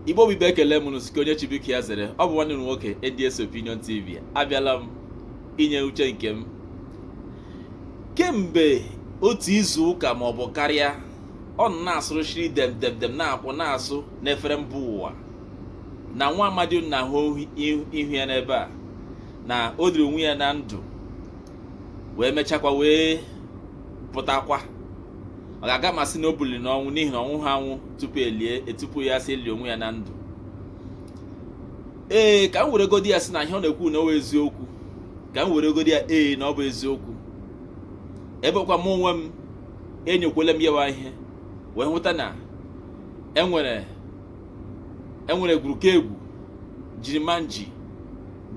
Igbo bụ Igbo ekele m unu sị nke onye chi biko ya zere ọ bụ nwanne m nwoke ADS Opinion TV abịala m inye uche nke m kemgbe otu izu ụka ma ọ bụ karịa ọ nọ na-asụrụ shiri dem dem dem na-akwụ na-asụ n'efere mba ụwa na nwa amadi unu na-ahụ ihu ya n'ebe a na o liri onwe ya na ndụ wee mechakwa wee pụtakwa maka aga m asị na o biliri n'ọnwụ n'ihi na ọ nwụha anwụ tupu e lie e tupu ya sị elie onwe ya na ndụ ee ka m were godi ya sị na ihe ọ na-ekwu na ọ bụ eziokwu ka m were godi ya ee na ọ bụ eziokwu ebekwa m onwe m enyokwele m ya wụ ihe wee hụta na enwere enwere egwuruka egwu jiri ma nji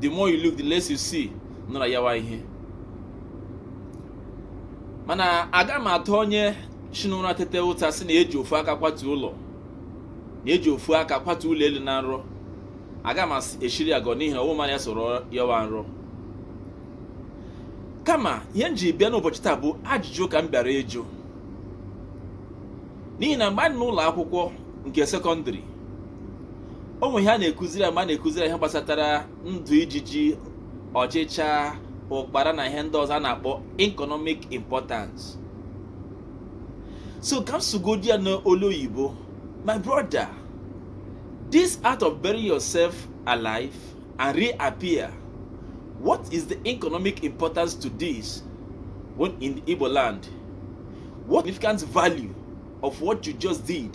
the more you look the less you see nọ na ya wụ ihe mana aga m ata onye si n'ụra tete ụta sị na eji ofu aka kwatu ụlọ na eji ofu aka kwatu ụlọ elu na nrọ aga m eshiri ya agọ n'ihi na ọ wụ mụ na ya so rọọ ya wụ nrọ kama ihe m ji bịa n'ụbọchị taa bụ ajụjụ ka m bịara ịjụ n'ihi na mgbe anyị nọ n'ụlọ akwụkwọ nke sekọndịrị o nwe ihe a na-ekuziri ma a na-ekuziri ihe gbasatara ndụ ijiji ọchịcha ụkpara na ihe ndị ọzọ a na-akpọ economic importance so ka m sugodi ya n'olu oyibo my brother this act of burying yourself alive and reappear what is the economic importance to this when in the Igbo land what significant value of what you just did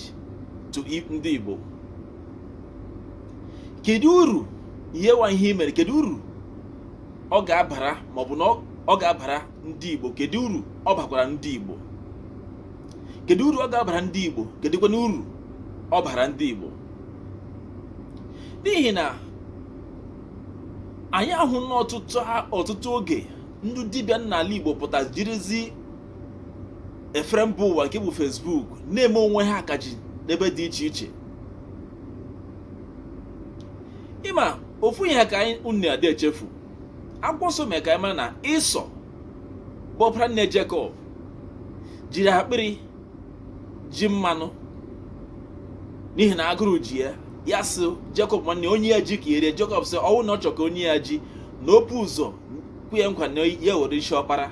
to ndị Igbo kedu uru ya wụ ihe i mere kedu uru ọ ga-abara ma ọ bụ na ọ ga-abara ndị Igbo kedu uru ọ bakwara ndị Igbo kedu uru ọ ga-abara ndị Igbo kedụkwana uru ọ bara ndị Igbo n'ihi na anyị ahụna ọtụtụ oge ndị dibịa n'ala Igbo pụta jirizi efere mba ụwa nke bụ Facebook na-eme onwe ha akaje n'ebe dị iche iche ị ma ofu ihe ka anyị unu adị echefu akwụkwọ nsọ mere ka anyị mara na Ịsọ bụ ọpara nne Jekọb jiri akpịrị ji mmanụ n'ihi na agụrụ ji ya ya sị Jekọb nwanne ya nye ya ji ka ya rie Jekọb sị ọ wụ na ọ chọ ka o nye ya ji na o bu ụzọ kwe ya nkwa na ya were isi ọkpara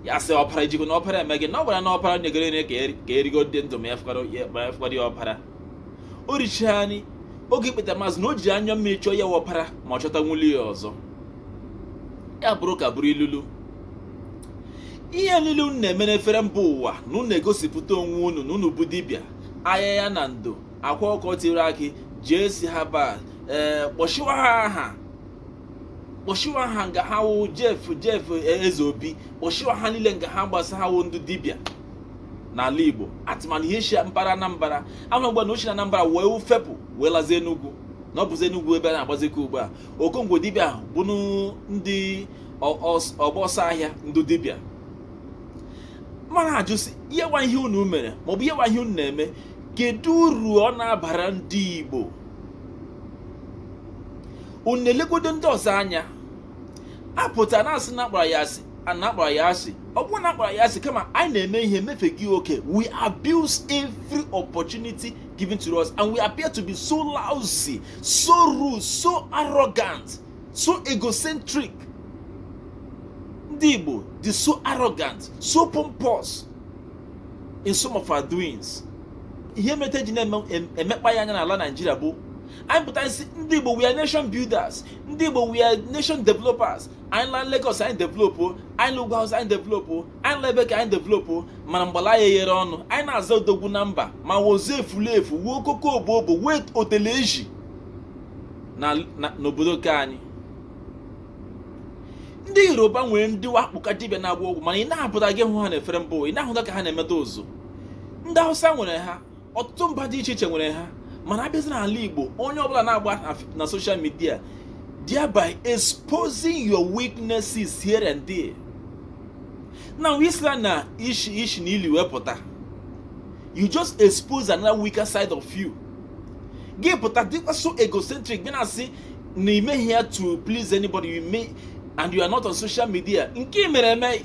ya sị ọpara ijikọ na ọpara eme gị na ọ gwara na ọpara nyegoro nri ka erigo dị ndụ ma ya fụkwara ya ọpara o richaa anyị oge ikpetamazụ na o ji anya mmiri chọọ ya ọpara ma ọ chọta nwuli ya ọzọ ya bụrụ ka bụrụ ilulu ihe niile unu na-eme n'efere mba ụwa na unu egosipụta onwe unu na unu bụ dibịa ahịa ya na ndị akwa ọkụkọ tiri akị jee si ha baa ee kpọshiwa ha aha kpọshiwa ha nga ha wụ jef jef eze obi kpọshiwa ha niile nga ha gbasa ha wụ ndị dibịa n'ala igbo atụmanụ ihe shi mpara anambra ahụ mgbe na uchi na anambra wee fepụ wee lazie enugwu na ọ bụzi enugwu ebe a na-agbazikọ ugbu a okongwo dibịa ahụ bụ ndị ọgba ọsọ ahịa ndị dibịa mana a jụsị ihe nwa ihe unu mere maọbụ ihe nwa ihe unu na-eme kedu uru ọ na-abara ndị igbo unu na-elegodo ndị ọzọ anya a pụta a na-asị na akpara anyị asị a na-akpara anyị asị ọ bụghị na akpara anyị asị kama anyị na-eme ihe mefe gị oke we abuse every opportunity given to us and we appear to be so lousy so rude so arrogant so egocentric ndị Igbo dị so arrogant so pompous in some of our doings ihe mere e ji na-emekpa anyị anya n'ala Naijiria bụ anyị pụta sị ndị Igbo we are nation builders ndị Igbo we are nation developers anyị la Lagos anyị developo anyị la Ugwu Hausa anyị developo anyị la ebe ka anyị developo mana mgbala anyị ghere ọnụ anyị na-aza odogwu na mba ma wụzi efulefu wuo okoko obo obo wee otele eji n'obodo nke anyị ndị yoruba nwere ndị wakpụka dibịa na-agba ọgwụ mana ị na-apụtaghị hụ ha na efere mbụ ị na-ahụta ka ha na-emeta ụzụ ndị hausa nwere ha ọtụtụ mba dị iche iche nwere ha mana a bịazie n'ala Igbo onye ọbụla na-agba na social media thereby exposing your weaknesses here and there na wisla na ishi ishi na ili wepụta you just expose another weaker side of you gị pụta dịkwa so egocentric gị na-asị na am I here to please anybody you may and you are not on social media nke mere eme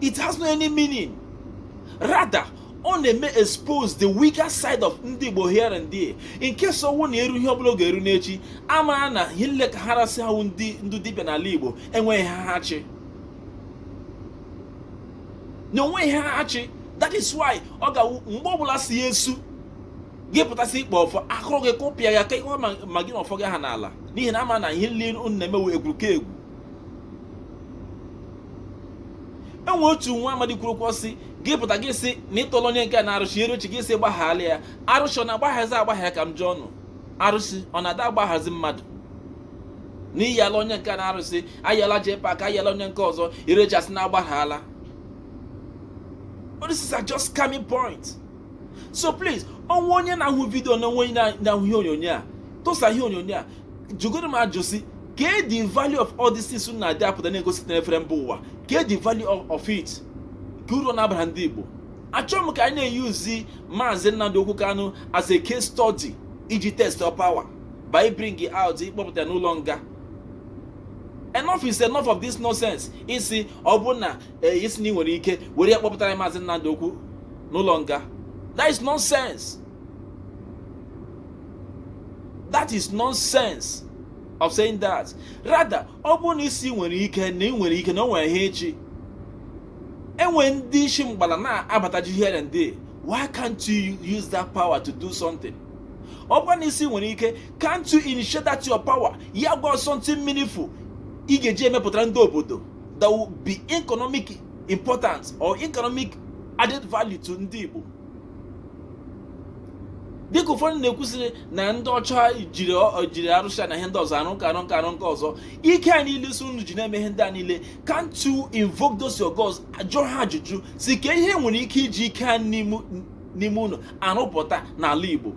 it has no any meaning rather ọ na-eme expose the weaker side of ndị Igbo here and there in case ọ wụ na eru ihe ọbụla ọ ga-eru n'echi a ma na ihe niile ka ha rasị ha wụ ndị dibịa n'ala Igbo enweghị ihe ha chị na o nweghị ihe ha chị that is why ọ ga mgbe ọbụla si ya esu gị pụta sị ị kpa ọfọ a kụrụ gị kụpịa ya ka ihe ma gị na ọfọ gị ahụ n'ala n'ihi na a ma na ihe niile unu na-eme wụ egwuruegwu enwe otu nwa amadi kwuru okwu sị gị pụta gị sị na ịtọrọ onye nke n'arụsị ere uche gị sị gbaghala ya arụsị ọ na-agbaghazi agbagha ka m jụọ unu arụsị ọ na-ada agbaghazi mmadụ n'ihi ala onye nke n'arụsị ayala jee pak ayala onye nke ọzọ irechasị na agbaghala this is just coming point so please o nwee onye na-ahụ vidio na o nwee onye na-ahụ ihe onyonyo a tụsa ihe onyonyo a jụgoro m ajụ sị kee the value of all these things unu na-adị apụta na-egosi na efere mba ụwa kee the value of it kee uru ọ na-abara ndị Igbo achọghị m ka anyị na-eyuzi maazị Nnamdi Okwu Kanu as a case study iji test your power by bringing out ịkpọpụta n'ụlọ nga enough is enough of this nonsense ị sị ọ bụ na ee eh, ị sị na ị nwere ike were ya kpọpụtara maazị Nnamdi Okwu n'ụlọ nga that is nonsense that is nonsense of saying that rather ọ bụrụ na ị sị i nwere ike na ị nwere ike na o nwere ihe echi e nwere ndị isi mgbala na-abataji here and there why can't you use that power to do something ọ bụrụ na ị sị i nwere ike can't you initiate that your power ya gwa something meaningful ị ga-eji emepụtara ndị obodo that will be economic importance or economic added value to ndị Igbo dịka ụfọdụ na-ekwu sịrị na ndị ọcha jiri jiri arụsị na ihe ndị ọzọ arụ nke a arụ nke a arụ nke ọzọ ike a niile sị unu ji na-eme ihe ndị a niile can't you invoke those your gods jụọ ha ajụjụ sị kee ihe e nwere ike iji ike a n'ime unu arụpụta n'ala Igbo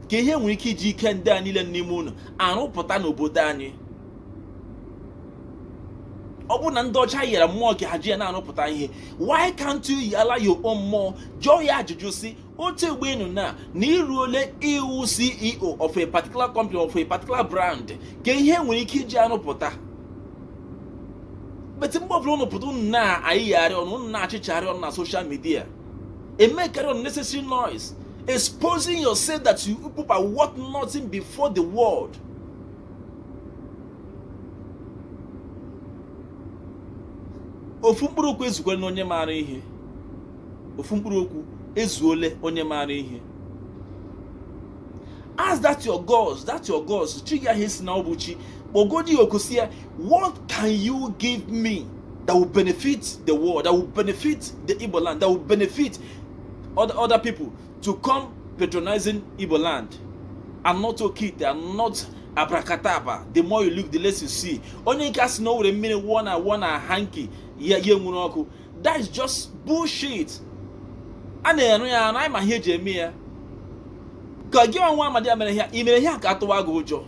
kee ihe e nwere ike iji ike ndị a niile n'ime unu arụpụta n'obodo anyị ọ bụrụ na ndị ọcha yara mmụọ ka ha ji ya na-arụpụta ihe why can't you yala your own mmụọ jụọ ya ajụjụ sị otu egbe enu na na i ruole ịwụ CEO of a particular company of a particular brand kee ihe e nwere ike iji arụpụta but mgbe ọbụla unu pụta unu na-ayịgharị ọnụ unu na-achịchagharị ọnụ na social media emekarị unnecessary noise exposing yourself that you people are worth nothing before the world ofu mkpụrụ okwu ezukwele na onye maara ihe ofu mkpụrụ okwu ezuole onye maara ihe ask that your gods that your gods chi ahụ ị sị na ọ bụ chi kpọgodi ya oku sị ya What can you give me that will benefit the world, that will benefit the Igbo land, that will benefit other, other people to come patronizing Igbo land and not Okite and not abracadabra the more you look the less you see onye nke a sị na o were mmiri wụọ na wụọ na hanky ya ya enwuru ọkụ that is just bullshit a na-ere ya ere anyị ma ihe e ji eme ya ka gị wụ nwa amadi a mere ya i mere ya ka atụwa gị ụjọ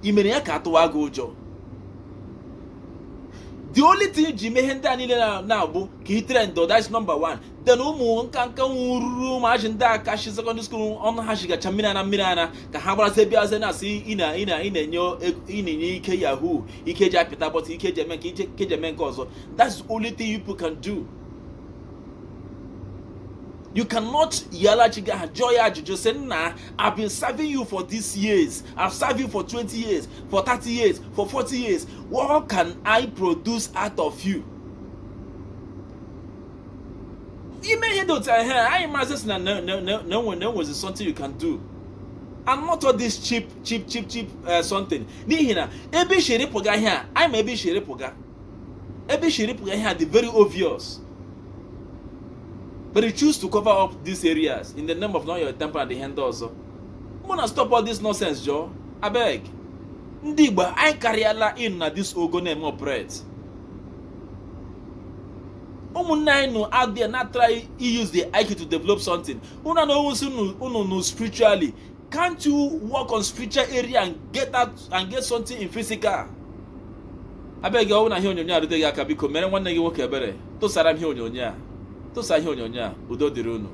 i mere ya ka a tụwa gị ụjọ the only thing ji mee ihe ndị a niile na-abụ ka i trend that's nọmba 1 then ụmụ nka nka nwụrụrụ ụmụazị ndị a ka shi sekọndịrị skuul ọnụ ha shigacha mmiri ara mmiri ara ka ha gbarazie bịazie na-asị ị na-enye ike yahoo ike ji apịta button ike ji eme nke ike ji eme nke ọzọ that's the only thing you can do you cannot yala chi gị ahụ jụọ ya ajụjụ sị nna I've been serving you for these years. I've served you for 20 years, for 30 years, for 40 years. What can I produce out of you? I mee ihe dị otu ahụ anyị amazie sị na na e nwezi something you can do. And not all this cheap cheap cheap cheap uh, something. N'ihi na ebe i shiri pụga ihe a, anyị ma ebe i shiri pụga. Ebe i shiri pụga ihe a dị very obvious. but you choose to cover up these areas in the name of not your temple and ihe ndị ọzọ una stop all this nonsense jọọ abeg ndị Igbo anyị karịala in na this ogo na-eme operate ụmụnne anyị nọ out there na-try use their IQ to develop something unu na onwe unu spiritually Can't you work on spiritual area and get out and get something in physical? abeg gị ọ wụ na ihe onyonyo a rute gị aka biko mere nwanne gị nwoke ebere tụsara m ihe onyonyo a tụsa ihe onyonyo a udo dịrị unu